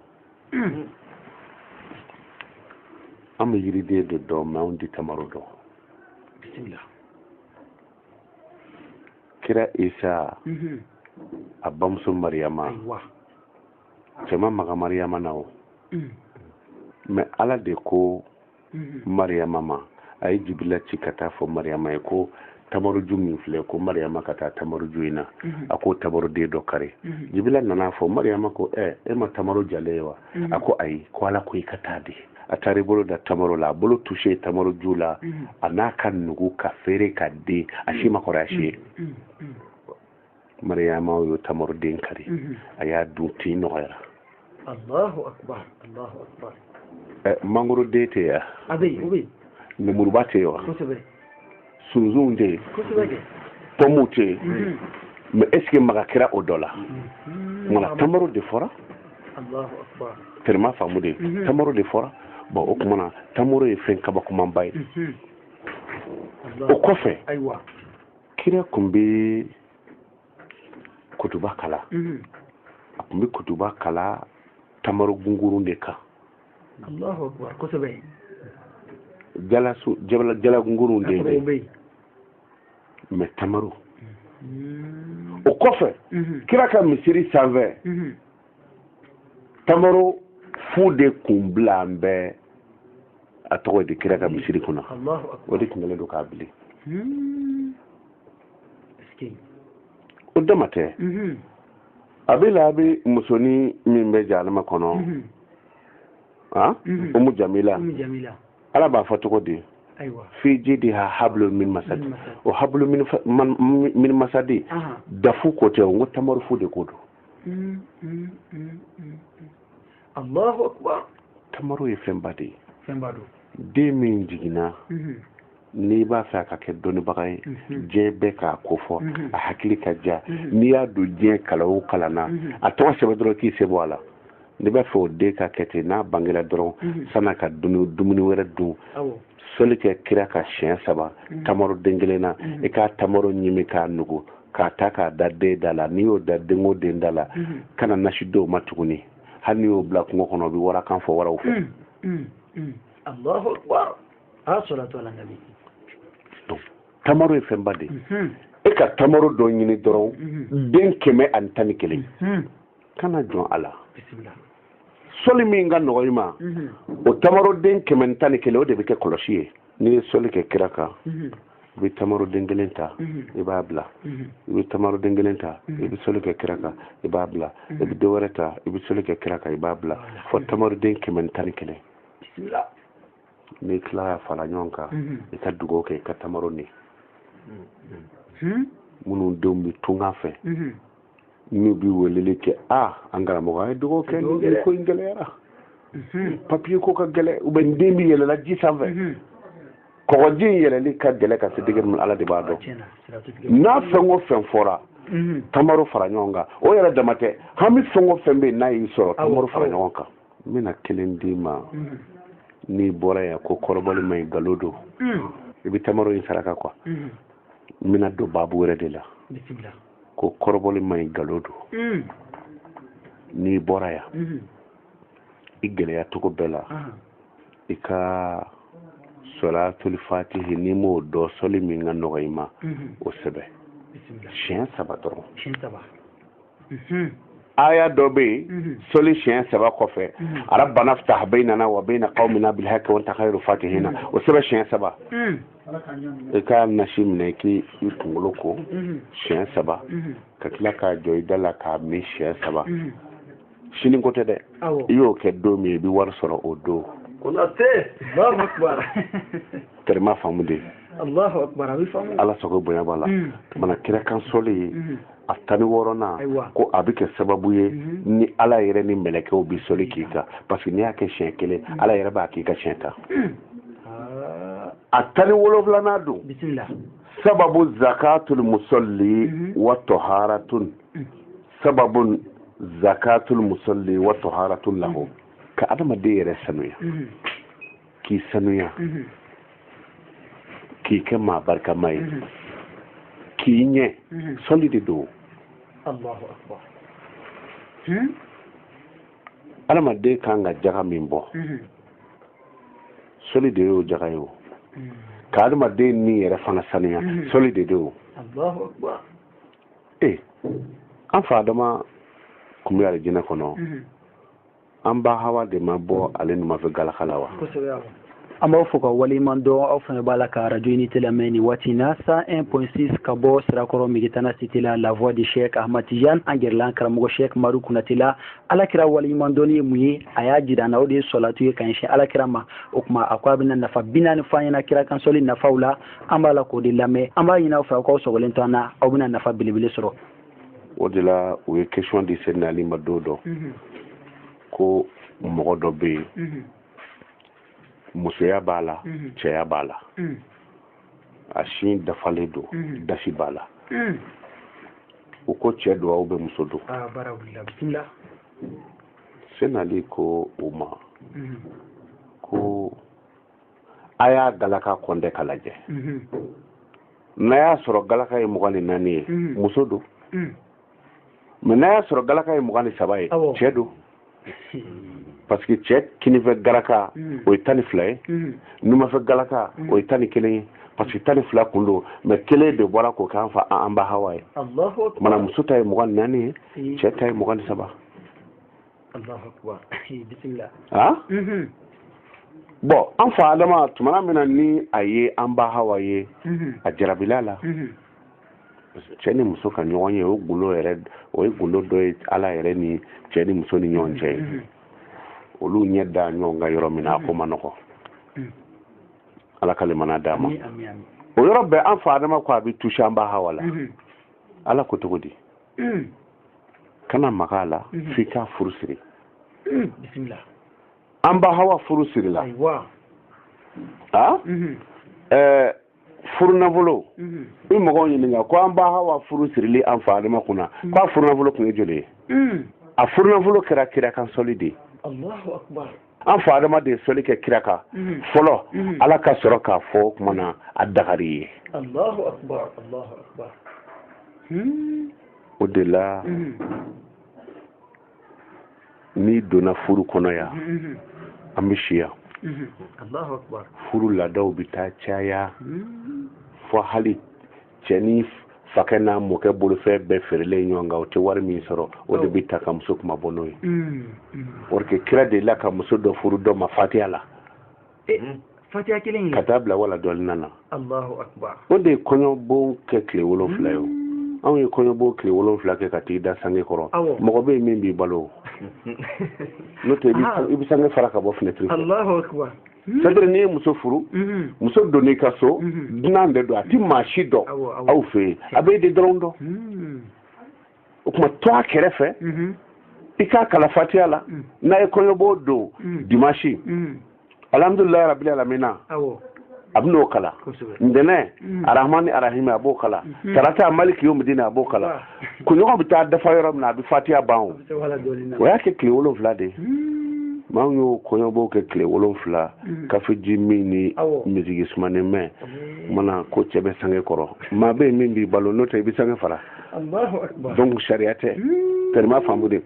an bɛ yiriden de dɔn mɛ anw ti tamaro dɔn bisimila kira isa mhm. a bamuso mariyama cɛ ma maga mariyama na o mm. mɛ ala de ko mhm. mariyama ma a ye jibila ci ka taa fɔ mariyama ye ko tamaroju min filɛ ko mariyama ka taa tamaroju in na mhm. a ko tamaroden dɔ kari jibila nana fɔ mariyama ko ɛ e ma tamaro jalen ye wa mm-hmm. a ko ayi ko ala ko i ka taa de a taara i bolo da tamaro la a bolo tuse tamaro ju la mm-hmm. a na ka nugu ka feere ka den a si ma kɔrɔ a si ye mm-hmm. mariyama y'o tamaro den kari a y'a dun tin nɔgɔyara Allahu akbar Allahu akbar eh, mangoro den tɛ ya a bɛ yen o bɛ yen lemuruba tɛ yen wa kosɛbɛ sunsunw tɛ yen pɔmuw tɛ yen mhm. mɛ esike maga kɛra o dɔ la mhm. wala tamaro de fɔra tɛrɛma faamu de mhm. tamaro de fɔra bɔn o kuma na tamaro ye fɛn kabakomanba ye o kɔfɛ kira kun bɛ kutuba kalan a kun bɛ kutuba kalan tamaro gungurun de kan Allahu akbar kosɛbɛ jalasun jala jala gungurunw de bɛ yen mais tamaro hmm. o kɔfɛ mhm. kira ka misiri sanfɛ mhm. tamaro fu de kun bilalen bɛ a tɔgɔ de kira ka misiri kunna o de tun kɛlen don k'a bili hmm. o dama tɛ mhm. abi lahabi musonin min bɛ jahanama kɔnɔ han umu jamila ala b'a fɔ cogo di fi jidiha hablu min masadi o hablu min masadi dafu ko tɛ n ko tamaro fu de ko don allahu akbar tamaro ye fɛnba de ye fɛnba don den min jiginna mhm. n'i b'a fɛ a ka kɛ dɔnnibaga ye mhm. diɲɛ bɛɛ k'a ko fɔ mhm. a hakili ka diya n'i y'a don diɲɛ kalan o kalan na a tɔgɔ sɛbɛn dɔrɔn k'i sen bɔ a la n'i b'a fɛ o den ka kɛ ten n'a bangela dɔrɔn san'a ka dumuni wɛrɛ dun soli kɛ kira kan siɲɛ saba tamaro den kelen na i ka tamaro ɲimi k'a nugu k'a ta k'a da den da la n'i y'o da den o den da la kana nasi d'o ma tuguni hali n'i y'o bila kungo kɔnɔ o bɛ warakan fɔ waraw fɛ. Hmm, hmm, alahu akubar asalatu ala nabi. donc tamaro ye fɛnba de ye. e ka tamaro dɔ ɲini dɔrɔn den kɛmɛ ani tan ni kelen kana jɔn a la. bisimila. sɔli min ka nɔgɔ i ma o tamaroden kɛmɛ ni tan ni kelen o de bɛ kɛ kɔlɔsi ye n'i ye sɔli kɛ kira kan i bɛ tamaro den kelen ta i b'a bila i bɛ tamaro den kelen ta i bɛ sɔli kɛ kira kan i b'a bila i bɛ dɔ wɛrɛ ta i bɛ sɔli kɛ kira kan i b'a bila fo tamaro den kɛmɛ ni tan ni kelen n'i tila k'a fara ɲɔgɔn kan i ka dugawu kɛ i ka tamaro ni minnu denw bɛ tunga fɛ n'u bɛ weleli kɛ a an karamɔgɔ a ye dugawu kɛ nin ko in gɛlɛyara papiye ko ka gɛlɛ u bɛ n den bɛ yɛlɛla ji sanfɛ kɔgɔji in yɛlɛli ka gɛlɛ ka se degere min ala de b'a dɔn n'a fɛn o fɛn fɔra tamaro fara ɲɔgɔn kan o yɛrɛ dama tɛ hami fɛn o fɛn bɛ yen n'a y'i sɔrɔ tamaro fara ɲɔgɔn kan n bɛna kelen d'i ma n'i bɔra yan ko kɔrɔbɔli man ɲi nkalon don i bɛ tamaro in saraka quoi n bɛna don baabu wɛrɛ de la ko kɔrɔbɔli man ɲi nkalon don mm. n'i bɔra yan mm-hmm. i gɛlɛya cogo bɛɛ la uh-huh. i ka sɔlatuli fatihi n'i m'o dɔn sɔli min ka nɔgɔ i ma mm-hmm. o sɛbɛn siɲɛ saba dɔrɔn mm-hmm. aya dɔ bɛ yen sɔli siɲɛ saba kɔfɛ rabbana ftah bainana wa baina qaumina bil haqqi wa anta khairu fatihina o sɛbɛn siɲɛ saba mm. i ka nasi minɛ k'i kunkolo ko mhm. siɲɛ saba mhm. ka tila k'a jɔ i da la k'a min siɲɛ saba mhm. sini ko tɛ dɛ i y'o kɛ don min i bɛ wari sɔrɔ o don tɛrɛma faamu de ala sago bonya b'a la mana kira kan sɔli ye a tan ni wɔɔrɔnan ko a bɛ kɛ sababu ye mhm. ni ala yɛrɛ ni mɛlɛkɛw bɛ sɔli k'i kan parce que n'i y'a kɛ siɲɛ kelen mhm. ala yɛrɛ b'a k'i kan siɲɛ tan mhm. a tan ni wolonfilanan don sababu zakatul musalli wa taharatun sababu zakatul musalli wa taharatun lahu ka adamaden yɛrɛ sanuya k'i sanuya mhm. k'i kɛ maa barikama ye mhm. k'i ɲɛ mhm. sɔli de don adamaden hmm? kan ka jaga min bɔ sɔli de y'o jaga ye o ka adamaden ni yɛrɛ fana sanuya sɔli de don ee an fa adama kun bɛ alijinɛ kɔnɔ an ba hawa de ma bɔ ale numafɛ galaka la wa an b'aw fo ka waleɲuman dɔn aw fana b'a la ka radio unité lamɛn nin waati in na 101.6 ka bɔ sirakɔrɔ megitana cité la la voix de cheikh ahmad tijan an gɛrɛla karamɔgɔ cheikh madu kunate la alakira waleɲuman dɔnni ye mun ye a y'a jira an na o de ye sɔlatu ye ka ɲɛsin alakira ma o tuma a ko a bɛna nafa bi naani fɔ an ɲɛna kira kan sɔli nafaw la an b'a la k'o de lamɛn an b'a ɲini aw fɛ aw k'aw sɔgɔlen to an na aw bɛna nafa belebele sɔrɔ o de la u ye question di sɛdina ali ma don dɔ mhm. ko mɔgɔ dɔ bɛ yen mhm. musoya b'a la mhm. cɛya b'a la a sin dafalen don dasi b'a la u ko cɛ don ou bien muso don ah, sɛdina ali ko u ma ko a y'a galaka compter ka lajɛ mhm. n'a y'a sɔrɔ galaka ye mugan ni naani ye mhm. muso don mhm. mais n'a y'a sɔrɔ galaka ye mugan ni saba ye cɛ don parce que cɛ kinifɛ galaka o ye tan ni fila ye numafɛ galaka o ye tan ni kelen ye parce que tan ni fila kun don mais kelen de bɔra k'o k'an fa an ba hawa ye mana muso ta ye mugan ni naani ye cɛ ta ye mugan ni saba ah? mhm. bon an fa adama tumana min na ni a ye an ba hawa ye mhm. a jarabil'a la mhm. cɛ ni muso ka ɲɔgɔn ye o gundo yɛrɛ o ye gundo dɔ ye ala yɛrɛ ni cɛ ni muso ni ɲɔgɔn cɛ olu ɲɛ da ɲɔgɔn kan yɔrɔ min na a ko ma nɔgɔ ala ka limana d'an ma o yɔrɔ bɛɛ an fa adama ko a bɛ toucher an ba hawa la ala ko cogo di mm. kana maga a la mm-hmm. f'i k'a furu siri mm. an ba hawa furu sirila a mm-hmm. eh, furu nafolo mm-hmm. i mɔgɔw ɲininka ko an ba hawa furu sirili an fa adama kunna mm. k'a furu nafolo kun ye joli ye a furu nafolo kɛra kira kan sɔli de ye an fa adama de ye sɔli kɛ kira kan mhm. fɔlɔ mhm. ala ka sɔrɔ k'a fɔ o kuma na a dagar'i ye hmm. o de la mhm. n'i donna furu kɔnɔ yan an bɛ si yan furu laadaw bɛ taa caya hmm. fɔ hali cɛ ni fakɛ n'a mɔkɛ bolofɛn bɛɛ feerelen ɲɔgɔn kan o tɛ wari min sɔrɔ o de bɛ ta ka muso kunmabɔ n'o ye mm, mm. or que kira delila ka muso dɔ furu dɔ ma fatiya la eh, mm. fatiya kelen ka taa bila wala dɔɔlina na o de ye kɔɲɔbon kɛ tile wolonfila ye o anw ye kɔɲɔbon tile wolonfila kɛ ka t'i da sange kɔrɔ mɔgɔ bɛ yen min b'i balo n'o tɛ i bɛ sange fara ka bɔ finɛtiri fɛ Hmm. c'est-à-dire n'i ye muso furu hmm. muso donn'i ka so hmm. dunan de don a ti maa si dɔn aw fɛ yen a b'e de dɔrɔn dɔn o tuma to a kɛrɛfɛ i k'a kalan fatiya la n'a ye kɔɲɔbon don dimasi alhamdulilayi rabili alamina a bɛ n'o kalan ntɛnɛn arahmani arahimi a b'o kalan tarata maliki yomidini a b'o kalan kunɲɔgɔn bɛ taa dafa yɔrɔ min na a bɛ fatiya ban o o y'a kɛ tile wolonwula de ye hmm. mɛ an y'o kɔɲɔbon kɛ tile wolonwula hmm. kafeji min ni misigi sumanen mɛn mana ko cɛ bɛ sange kɔrɔ maa bɛ yen min b'i balo n'o tɛ i bɛ sange fara donc sariya tɛ tɛrɛma faamu de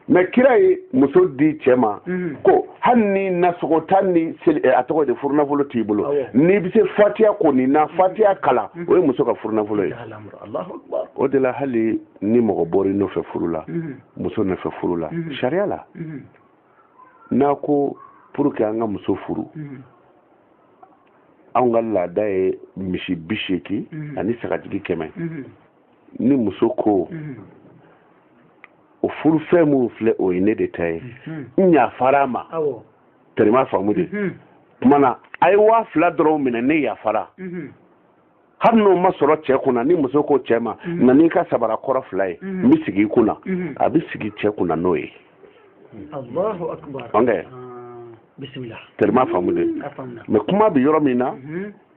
mɛ kira ye muso di cɛ ma mhm. ko hali ni nasɔngɔ tan ni eh, a tɔgɔ de furunafolo t'i bolo n'i bɛ se fatiya kɔni na mhm. fatiya kalan mhm. o ye muso ka furunafolo ye o de la hali ni mɔgɔ bɔra i nɔfɛ furu la muso nɔfɛ furu la sariya la n'a ko pour que an ka muso furu anw ka laada ye misi bi seegin ani sagajigi kɛmɛ ni muso ko mhm. o furufɛn minnu filɛ o ye ne de ta ye mhm. n yafara a ma tɛrɛma faamu de mhm. kuma na a ye waa fila dɔrɔn minɛ ne yafara hali n'o ma sɔrɔ cɛ kunna ni muso ko cɛ ma na n'i ka sabara kɔrɔ fila ye n bɛ sigi i kunna a bɛ sigi cɛ kunna n'o ye alahu akibaru bisimila tɛrɛma faamu de mɛ kuma bɛ yɔrɔ min na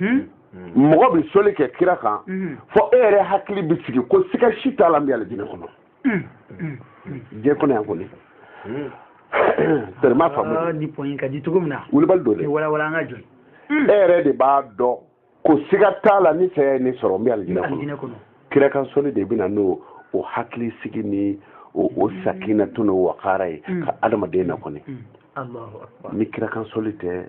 hmm? hmm. mɔgɔ bɛ soli kɛ kira kan hmm. fɔ e yɛrɛ hakili bɛ sigi ko siga si t'a la n bɛ alijinɛ kɔnɔ diɲɛ kɔnɔ yan kɔni tɛrɛma faamu ah, ni pɔnyi ka di cogo min na wulibali don dɛ walawala an ka jɔ e yɛrɛ de b'a dɔn ko siga t'a la ni saya ye ne sɔrɔ n bɛ alijinɛ kɔnɔ kira kan soli de bɛ na n'o hakilisigi ni o sakinatu n'o wakara ye ka adamaden na kɔni ni kira kan soli tɛ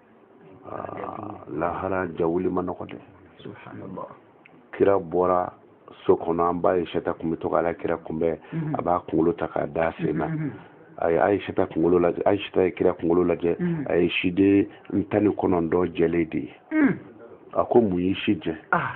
ah, lahara jawuli man nɔgɔ dɛ subahanala kira bɔra so kɔnɔ an ba ayisata kun bɛ to k'ala kira kunbɛn mhm. a b'a kunkolo ta k'a d'a sen na mhm. a ye ayisata kunkolo lajɛ ayisata ye kira kunkolo lajɛ mhm. a ye siden tan ni kɔnɔntɔn jɛlen de ye a ko mun y'i si jɛ ah.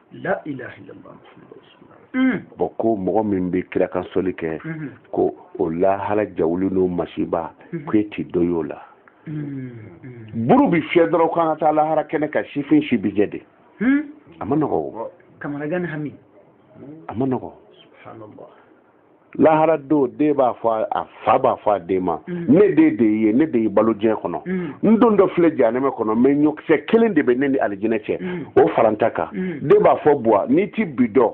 bɔn ko mɔgɔ min bɛ kira kan soli kɛ mhm. ko o lahara jawuli n'o masiba mhm. ko e ti dɔ y'o la mhm. buru bi fiyɛ dɔrɔn k'an ka taa lahara kɛnɛ kan sifin si bi jɛ de hmm? a man nɔgɔ o a man nɔgɔ lahara don den b'a fɔ a fa b'a fɔ a den ma mm. ne den de ye ne de y'i balo diɲɛ kɔnɔ mm. n dontɔ filɛ janɛmɛ kɔnɔ mɛ ɲɔkisɛ kelen de bɛ ne ni alijinɛ cɛ mm. o fara n ta kan den b'a fɔ buwa n'i ti bi dɔn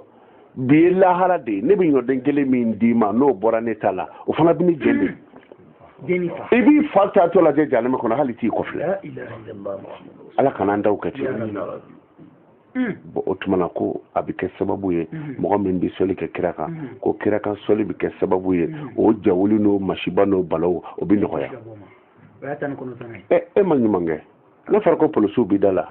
bi ye lahara de ye ne bɛ ɲɔden kelen min d'i ma n'o bɔra ne ta la o fana bɛ ne jɛ de i b'i fa taatɔ lajɛ janɛmɛ kɔnɔ hali t'i kɔfilɛ ala kana an daw kɛ ten bɔn o tuma na ko a bɛ kɛ sababu ye mɔgɔ min bɛ sɔli kɛ kira kan ko kira kan sɔli bɛ kɛ sababu ye o jawuli n'o masiba n'o balaw o bɛ nɔgɔya e ma ɲuman kɛ n'a fɔra ko polisiw bɛ da la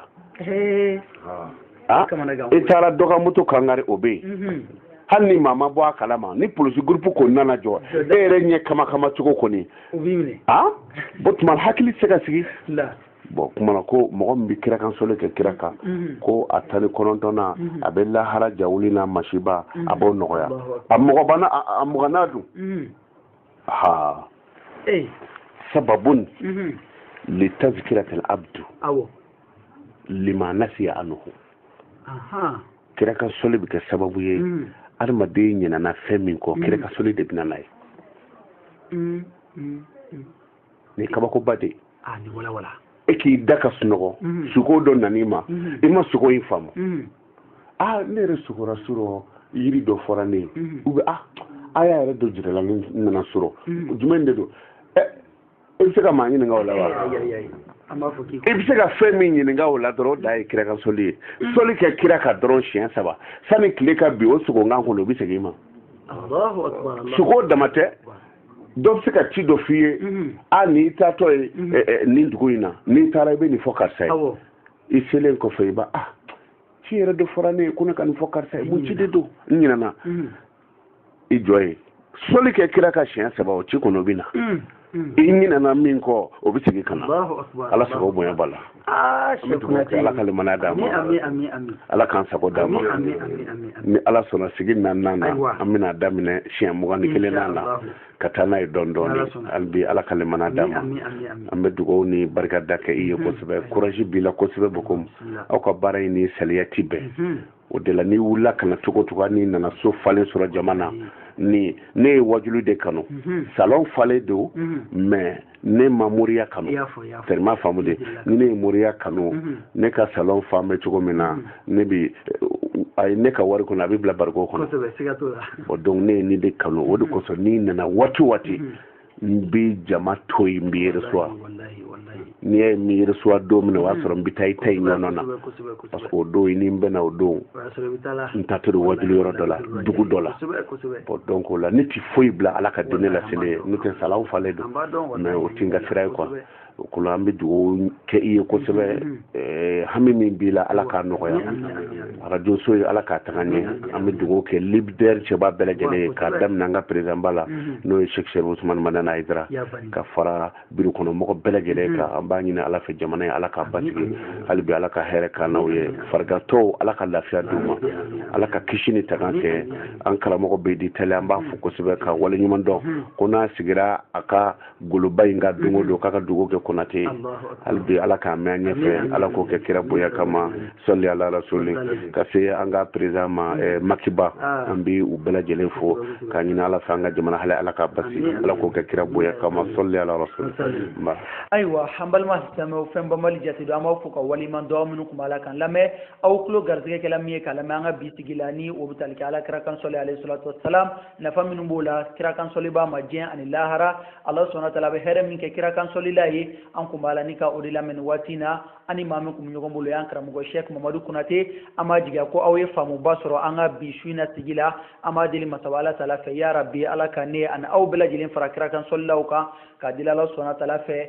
ah, i taara dɔ ka moto kangari o bɛ yen hali ni maa ma bɔ a kalama ni polisi gurupu kɔni nana jɔ e yɛrɛ ɲɛ kama kama cogo kɔni o tuma hakili tɛ se ka sigi bɔn kuma na ko mɔgɔ min bɛ kira kan soli kɛ kira kan mhm. ko a tan ni kɔnɔntɔnnan mhm. a bɛ lahara jawuli n'a masiba a mhm. b'o nɔgɔya a mugannan a mugannan dun ha sababun li tazkiratil abdu lima nasiya anhu kira kan soli bɛ kɛ sababu ye adamaden ɲinana fɛn min kɔ kira kan soli de bɛ na n'a ye nin kabakoba de ah, e k'i da ka sunɔgɔ mhm. suko dɔ nan'i ma mhm. i ma suko in faamu mhm. a ah, ne yɛrɛ sugora surɔ yiri dɔ fɔra ne ye u bɛ a a y'a yɛrɛ dɔ jirala ne nana surɔ jumɛn de don ɛ eh, i bɛ se ka maa ɲininka o la wa i bɛ se ka fɛn min ɲininka o la dɔrɔn o de ye kira kan soli ye soli kɛ kira kan dɔrɔn siɲɛ saba sani tile ka bin o suko kan kɔnɔ o bɛ segin i ma suko dama tɛ dɔ bɛ se ka ci dɔ f'i ye mhm. a n'i taatɔ ye mhm. eh, eh, nin dugu in na n'i taara i bɛ nin fɔ karisa ye i selen kɔfɛ i b'a ah, ci yɛrɛ de fɔra ne ye ko ne ka nin fɔ karisa ye mun ci de don n ɲinɛna mhm. i jɔ yen soli kɛ kira kan siɲɛ saba o ci kɔnɔ o bɛ na i ɲinɛna min kɔ o bɛ segin ka na ala sago bonya b'a la Ah, ala ka limaniya d'an ma ala k'an sago d'an ma ni ala sɔnna sigi naaninan na an bɛna daminɛ siɲɛ mugan ni kelennan na ka taa n'a ye dɔɔni dɔɔni hali bi ala ka limaniya d'an ma an bɛ dugawu ni barikada kɛ i ye kosɛbɛ kuraji b'i la kosɛbɛ bokomu aw ka baara in ni saliya ti bɛn o de la n'i wulila ka na cogo cogo n'i nana so falen sɔrɔ jama na mm. ni ne ye wajulu de kanu mm-hmm. salon falen don mm-hmm. mais ne ma moriya kanu tellement faamu de ni ne ye moriya kanu mm-hmm. ne ka salon falen bɛ cogo min na ne bi a ye ne ka wari kɔni a bɛ bila bariko kɔnɔ donc ne ye nin de kanu o de kosɔn n'i nana waati waati n bɛ jama to yen n b'i reçoit n'i y'a ye n m'i reçoit don min na o y'a sɔrɔ n bɛ taa i ta in ɲɔgɔn na parce que o don i ni n bɛna o don n taatɔ don wajuli yɔrɔ dɔ la dugu dɔ la bɔn donc o la ne ti foyi bila ala ka diinɛ laseli ɲɛ n'o tɛ salon falen don mais o ti n ka sira ye quoi o kɔnɔ an bɛ dugawu kɛ i ye kosɛbɛ mm-hmm. eh, hami min b'i la ala k'a nɔgɔya mm-hmm. arajo so ye ala k'a taga ɲɛ mm-hmm. an bɛ dugawu kɛ lidɛri cɛba bɛɛ lajɛlen ye k'a daminɛ an ka perezanba la n'o ye sɛki serifu usumani madani ayidara ka fara biro kɔnɔ mɔgɔ bɛɛ lajɛlen kan an b'a ɲini ala fɛ jamana ye ala k'a basigi hali bi ala ka hɛrɛ k'an n'aw ye farigantɔw ala ka lafiya d'u ma ala ka kisi ni tanga kɛ an karamɔgɔ bɛdi tali an b'a fo kosɛbɛ k'a waleɲuman dɔn ko n'a sigira a ka goloba in kan don o don k'a ka dugawu kɛ konate hali bi ala k'a mɛn an ɲɛfɛ ala k'o kɛ kira bonya kama sɔli ala rasuli ka se an ka perezan ma eh, maki ba ah. an bɛ u bɛɛ lajɛlen fo k'a ɲini ala fɛ an ka jamana hali ala k'a basi ala k'o kɛ kira bonya kama sɔli ala rasuli nba ayiwa an balima silamɛw fɛn banbali jate don an b'aw fo ka waleɲuman dɔn minnu kun b'a la k'an lamɛn aw tulo garisigɛ kɛla min ye k'a lamɛn an ka bi sigi la ni o bɛ tali kɛ ala kira kan sɔli alayhi salatu wasalam nafa minnu b'o la kira kansɔlibaa ma diɲɛ ani lahara ala subhana taala bɛ hɛrɛ min kɛ kira kansɔlila ye an kun b'a la ni ka o de lamɛn nin waati na an ni maa min kun bɛ ɲɔgɔn bolo y'an karamɔgɔ shɛk mamadu konate an b'a jigiya ko aw ye faamuba sɔrɔ an ka bi su in na sigi la an b'a deli masaba ala taala fɛ ya rabi ala ka ne ani aw bɛɛ lajɛlen fara kira kansɔlilaw kan k'a deli ala subhana taala fɛ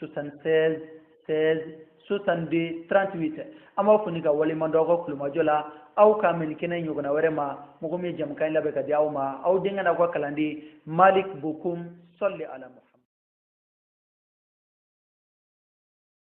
76 16 62 38 an b'aw fo ni k'aw waleɲuman dɔn aw ka tulomajɔ la aw ka mɛn kɛnɛ ɲɔgɔnna wɛrɛ ma mɔgɔ min ye jɛmukan in labɛn k'a di aw ma aw denkɛ n'aw ka kalanden malik bokum sɔli ala